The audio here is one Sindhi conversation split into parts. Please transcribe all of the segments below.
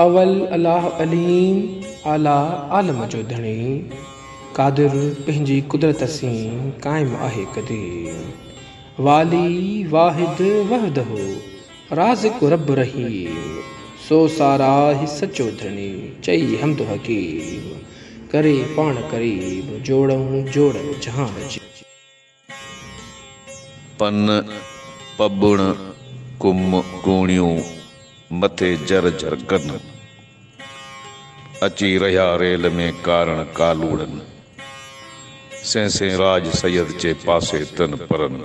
اول الاھ عليم اعليٰ عالم جو ڌڻي قادر پنهنجي قدرت سين قائم آهي قديم والي واحد وحده رازق رب رحيم سو ساراهه سچو ڌڻي چئي حمد حڪيم ڪري پاڻ قريب جوڙئون جوڙ جهان جي. پن پٻڻ ڪم ڪوڻيون مٿي جر جر ڪن. اچي رهيا ريل ۾ ڪارڻ ڪالوڙن. سين سين راڄ سيد چي پاسي تن پرن.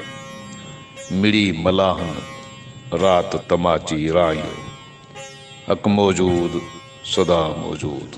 مڙي ملاحن رات تماچي رائيو. حق موجود سدا موجود.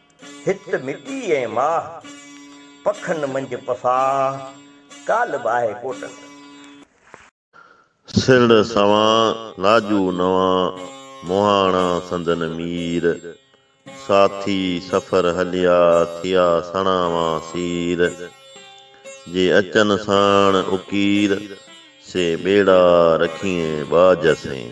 هت مٽي ۽ ماهه، پکن منجهه پساهه، ڪالهه ٻاهي ڪوٽن. سرڙ سوان، لاجو نوان، مهاڻا سندن مير، ساٿي سفر هليا، ٿيا سڻا وان سير، جي اچن ساڻ اڪير، سي ٻيڙا رکيئين ٻاجهه سين.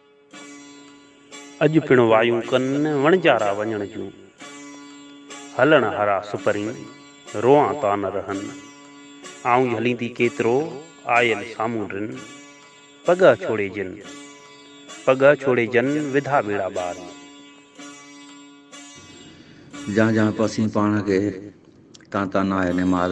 اڄ پڻ وايون ڪن وڻجارا وڃڻ جون، هلڻ هارا سپرين روئان تان رهن. آئون ئي هليندي ڪيترو آيل سامون رن، پڳهه ڇوڙي جن، پڳهه ڇوڙي جن وڌا ٻيڙا ٻار ۾. جان جان پاسين پاڻ کي، تان تان آهي نمار.